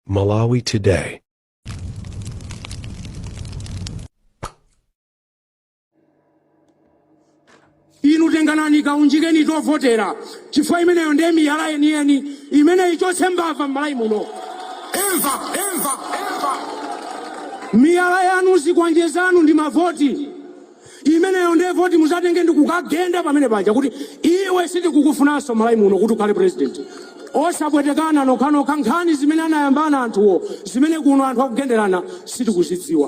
Malawi Today. inu tenganani kaunjikeni tovotera chifukwa imeneyo ndiye miyala yeniyeni imene ichotse mbava m'Malawi muno imva miyala yanu zikwanje zanu ndi mavoti Imeneyo ndiye voti muzatenge ndikukagenda pamene paja kuti iwe sitikukufunanso m'Malawi muno kuti ukhale president. Osapwetekana nokhanokha nkhani zimene anayambana anthuwo zimene kuno anthu akugenderana sitikuzidziwa.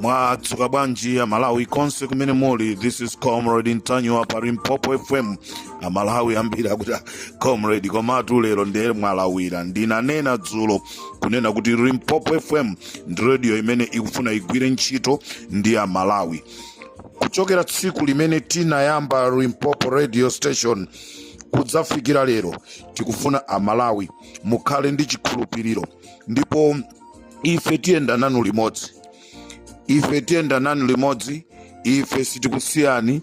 mwadzuka bwanji amalawi konse kumene muli this is comrade ntanyiwa pa limpopo fm amalawi ambiri akuti "Ah, comrade komatu lero ndiye mwalawira ndinanena dzulo kunena kuti limpopo fm ndi radio imene ikufuna igwire ntchito ndi amalawi kuchokera tsiku limene tinayamba limpopo radio station kudzafikira lero tikufuna amalawi mukhale ndi chikhulupiriro ndipo ife tiyenda nanu limodzi ife tiyenda nanu limodzi ife sitikusiyani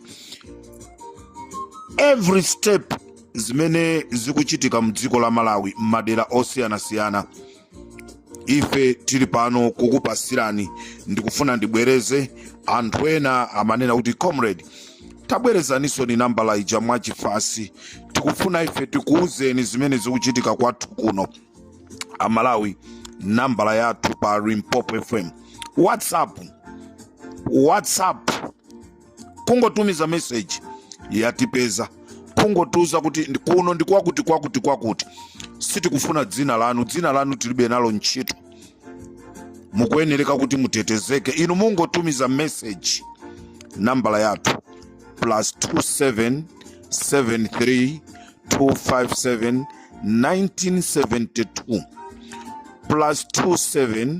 every step zimene zikuchitika mdziko la malawi m'madera osiyanasiyana ife tili pano kukupasirani ndikufuna ndibwereze anthu ena amanena kuti comrade tabwerezaninsoni nambala ija mwachifatse tikufuna ife tikuwuzeni zimene zikuchitika kwathu kuno amalawi nambala yathu pa limpopo fm whatsapp whatsapp kungotumiza meseji yatipeza kungotiuza kuti kuno ndi kwakuti kwakuti kwakuti sitikufuna dzina lanu dzina lanu tilibe nalo ntchito mukuyenereka kuti mutetezeke inu mungotumiza meseji nambala yathu plus 27 73 257 1972 plus 27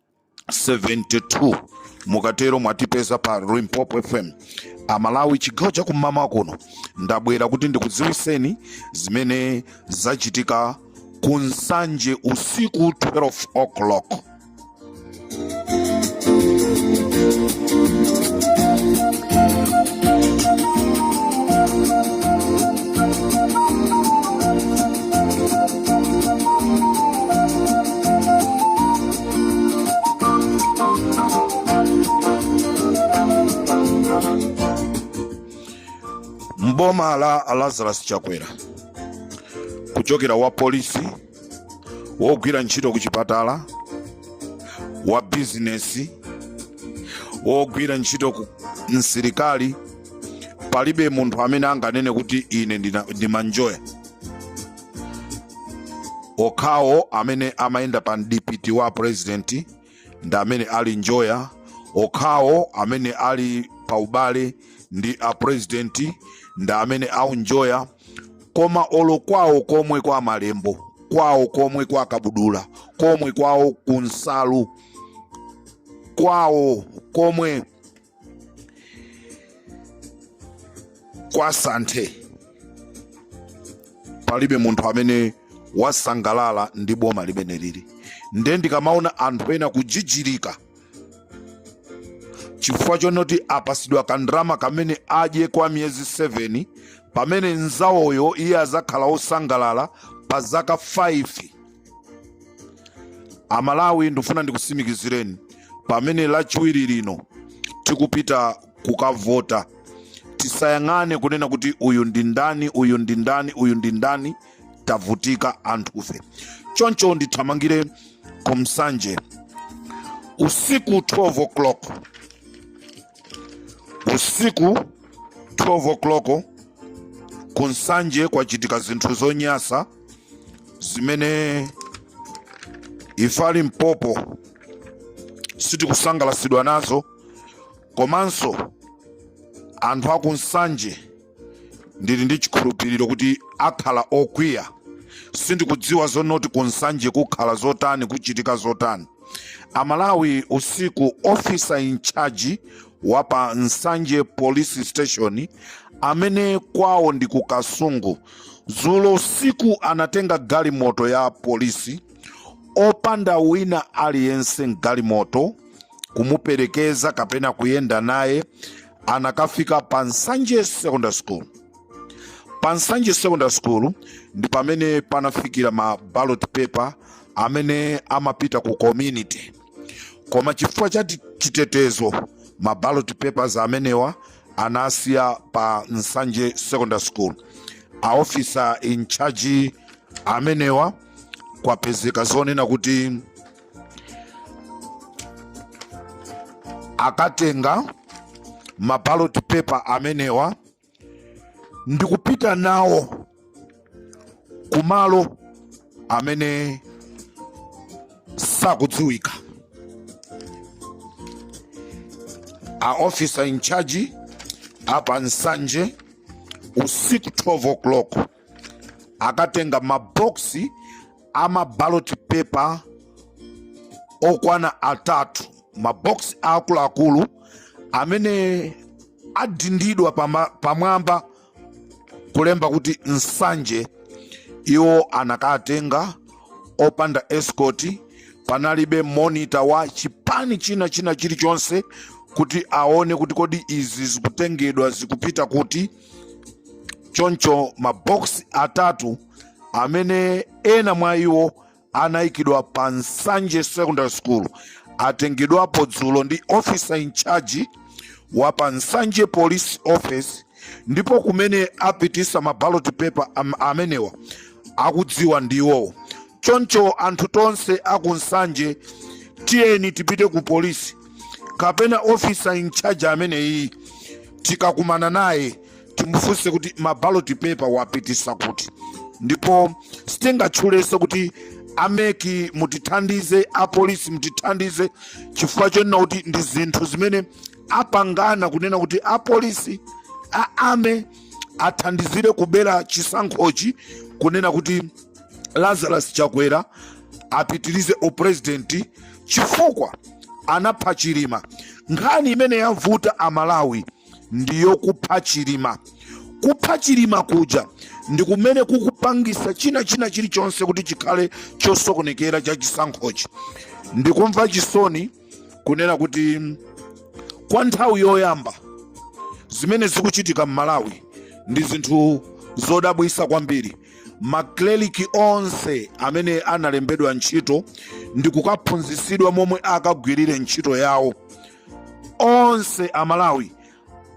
72 mukatero mwatipeza pa Limpopo FM amalawi chigawo cha kum'mamawa kuno ndabwera kuti ndikudziwiseni zimene zachitika ku nsanje usiku 12 o'clock mboma la lazarus chakwera kuchokera wa polisi wogwira ntchito ku chipatala wa bizinesi wogwira ntchito ku msilikali palibe munthu amene anganene kuti ine ndimanjoya okhawo amene amayenda pa mdipiti wa purezidenti ndi amene akunjoya okhawo amene ali pa ubale ndi a purezidenti ndi amene akunjoya koma olo kwawo komwe kwa malembo kwawo komwe kwa kabudula komwe kwawo kunsalu kwawo komwe kwa santhe palibe munthu amene wasangalala ndi boma limeneli nde ndikamaona anthu ena kujijirika chifukwa chonoti apasidwa kandrama kamene adye kwa miyezi 7 pamene nzawoyo iye azakhala osangalala pa zaka 5 amalawi ndifuna ndikusimikizireni pamene lachiwiri lino tikupita kukavota tisayang'ane kunena kuti uyu ndi ndani uyu ndi ndani uyu ndi ndani tavutika anthufe choncho ndithamangire kunsanje usiku 12 o'clock usiku 12 o'clock kunsanje kwachitika zinthu zonyasa zimene ife a limpopo sitikusangalasidwa nazo komanso anthu aku nsanje ndili ndi chikhulupiriro kuti akhala okwiya sindikudziwa zonoti ku nsanje kukhala zotani kuchitika zotani amalawi usiku officer in charge wa pa nsanje police station amene kwawo ndi ku kasungu Dzulo usiku anatenga galimoto ya polisi opanda wina aliyense m'galimoto kumuperekeza kapena kuyenda naye anakafika pa Nsanje Secondary School. Pa Nsanje Secondary School ndi pamene panafikira ma ballot paper amene amapita ku community, koma chifukwa cha chitetezo ma ballot papers amenewa anasiya pa nsanje secondary school a officer in charge amenewa kwapezeka zonena kuti akatenga maballot paper amenewa ndikupita nawo kumalo amene sakudziwika a officer in charge apa nsanje usiku 12 o'clock akatenga maboksi ama ballot paper okwana atatu maboksi akuluakulu amene adindidwa pama- pamwamba kulemba kuti nsanje iwo anakatenga opanda escort panalibe monitor wa chipani china china chilichonse kuti aone kuti kodi izi zikutengedwa zikupita kuti choncho maboksi atatu amene ena mwa iwo anaikidwa pa Nsanje Secondary School atengedwapo dzulo ndi officer in charge wa pa Nsanje Police Office ndipo kumene apitisa ma ballot paper amenewa akudziwa ndiwowo choncho anthu tonse aku Nsanje tiyeni tipite ku polisi kapena officer in charge ameneyi tikakumana naye timufunse kuti ma ballot paper wapitisa kuti ndipo sitingatchulenso kuti a MEC mutithandize apolisi mutithandize chifukwa chonena kuti ndi zinthu zimene apangana kunena kuti apolisi a ame athandizire kubera chisankhochi kunena kuti lazarus chakwera apitirize uprezidenti chifukwa anapha chilima nkhani imene yamvuta amalawi ndi yokupha chilima kupha chilima kuja ndi kumene kukupangisa china china chilichonse kuti chikhale chosokonekera cha chisankhochi ndikumva chisoni kunena kuti kwa nthawi yoyamba zimene zikuchitika m'malawi ndi zinthu zodabwisa kwambiri makleriki onse amene analembedwa ntchito ndi kukaphunzisidwa momwe akagwirire ntchito yawo onse amalawi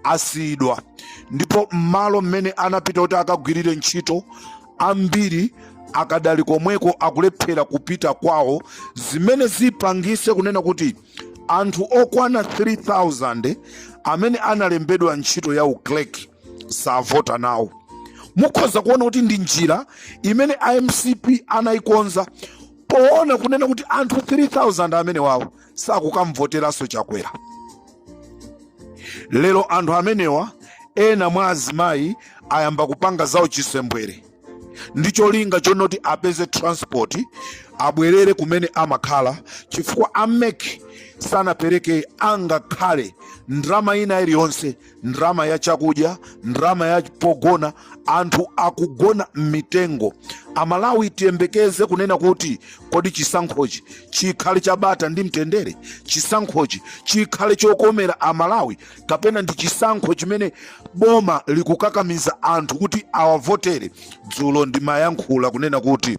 asiyidwa ndipo m'malo mmene anapita kuti akagwirire ntchito ambiri akadali komweko akulephera kupita kwawo zimene zipangise kunena kuti anthu okwana 3000 amene analembedwa ntchito ya uclerk savota nawo mukhoza kuona kuti ndi njira imene a mcp anayikonza poona kunena kuti anthu 3000 amenewawo sakukamvoteranso chakwera lero anthu amenewa ena mwa azimayi ayamba kupanga zawo chisembwere ndi cholinga chonoti apeze transport abwerere kumene amakhala chifukwa a MEC sanapereke angakhale ndrama ina iliyonse ndalama ya chakudya, ndalama ya pogona, anthu akugona m'mitengo. Amalawi tiyembekeze kunena kuti kodi chisankhochi chikhale cha bata ndi mtendere? Chisankhochi chikhale chokomera Amalawi kapena ndi chisankho chimene boma likukakamiza anthu kuti awavotere? Dzulo ndimayankhula kunena kuti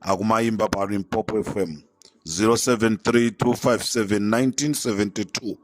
akumayimba pa limpopo fm 0732571972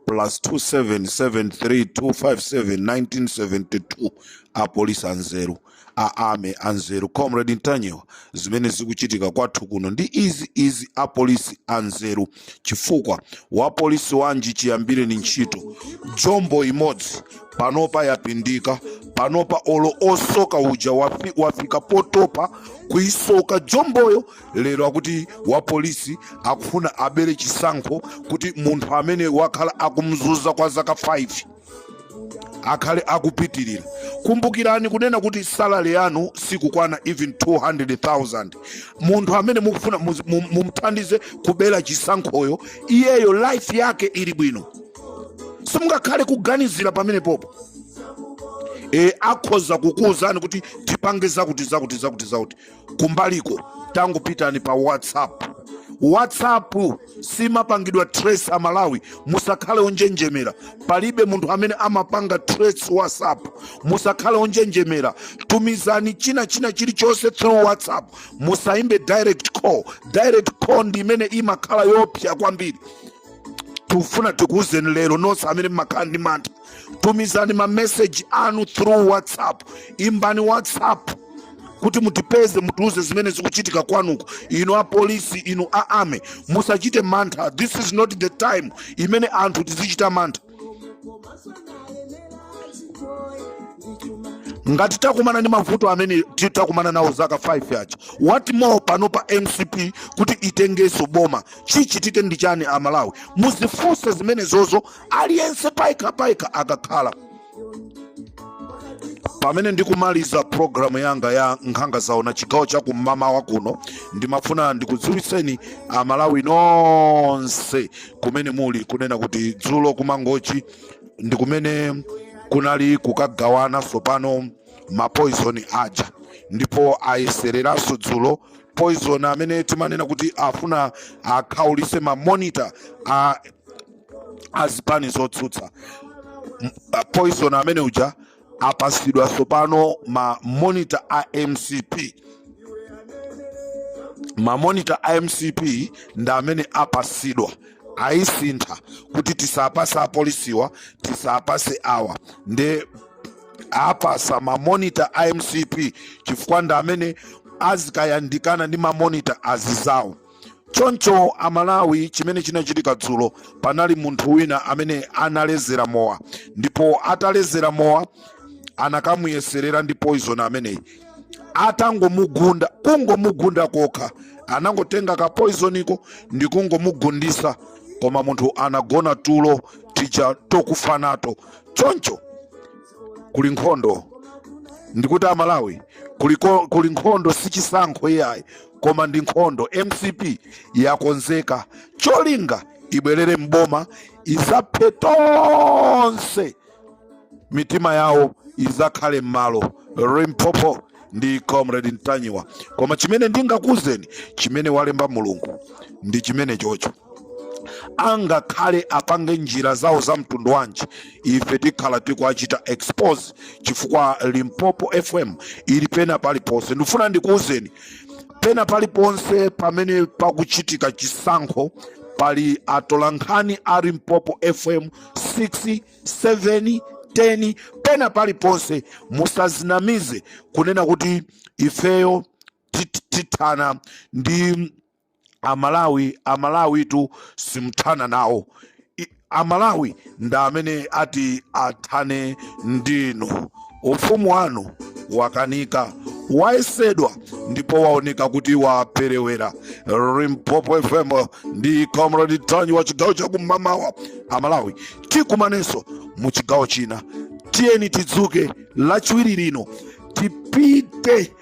plus 27732571972 apolisi anzeru a army anzeru comrade ntanyiwa zimene zikuchitika kwathu kuno ndi izi izi apolisi anzeru chifukwa wapolisi wanji chiyambireni ntchito jombo imodzi panopa yapindika panopa olo osoka uja wafika potopa kuisoka jomboyo lero akuti wapolisi akufuna abere chisankho kuti munthu amene wakhala akumzuza kwa zaka 5 akhale akupitirira kumbukirani kunena kuti salary yanu sikukwana even 200,000 munthu amene mukufuna mumthandize kubera chisankhoyo iyeyo life yake ili bwino simungakhale kuganizira pamenepopo e, akhoza kukuwuzani kuti tipange zakuti zakuti zakuti zakuti kumbaliko tangopitani pa whatsapp whatsapp simapangidwa trace amalawi musakhale onjenjemera palibe munthu amene amapanga trace whatsapp musakhale onjenjemera tumizani china china chilichonse through whatsapp musayimbe direct call direct call ndi imene imakhala yopsa kwambiri tufuna tikuwuzeni lero nonse amene mmakhala ndi mantha tumizani mameseji anu through whatsapp imbani whatsapp kuti mutipeze mutiuze zimene zikuchitika kwanuko inu apolisi inu a army musachite mantha this is not the time imene anthu tizichita mantha ngati takumana ndi mavuto amene ti- takumana nawo zaka 5 yacha what more panopa mcp kuti itengeso boma chichitike ndi chani amalawi muzifunse zimenezozo aliyense payekha payekha akakhala pamene ndikumaliza programu yanga ya nkhanga zaona chigawo cha kumamawa kuno ndimafuna ndikudziwitseni amalawi nonse kumene muli kunena kuti dzulo kumangochi ndi kumene kunali kukagawana tsopano mapoizoni aja ndipo ayesereranso dzulo poizoni amene timanena kuti afuna akhaulise mamonita a azipani zotsutsa poison amene uja apasidwa sopano ma monitor a mcp ma monitor a mcp ndi amene apasidwa ayisintha kuti tisapase apolisiwa tisapase awa nde apasa mamonita a mcp chifukwa ndi amene azikayandikana ndi mamonita azizawo choncho amalawi chimene chinachitika dzulo panali munthu wina amene analezera mowa ndipo atalezera mowa anakamuyeserera ndi poison ameneyi atangomugunda kungomugunda kokha anangotenga ka poisoniko ndi kungomugundisa koma munthu anagona tulo tija tokufa nato choncho kuli nkhondo ndikuti amalawi kuli nkhondo sichisankho iyayi koma ndi nkhondo mcp yakonzeka cholinga ibwerere mboma izaphe tonse mitima yawo izakhale m'malo limpopo ndi comrade ntanyiwa koma chimene ndingakuuzeni chimene walemba mulungu ndi chimene chocho angakhale apange njira zawo za mtundu wanji ife tikhala tikuachita expose chifukwa limpopo fm ili pena paliponse ndifuna ndikuwuzeni pena paliponse pamene pakuchitika chisankho pali atolankhani a limpopo fm 6 7 10 pena paliponse musazinamize kunena kuti ifeyo tithana ndi amalawi amalawitu simthana nawo amalawi ndi amene ati athane ndinu ufumu wanu wakanika wayesedwa ndipo waoneka kuti waperewera limpopo fm ndi comrade ntanyiwa chigawo chakumamawa amalawi tikumanenso mu chigawo china tiyeni tidzuke lachiwiri lino tipite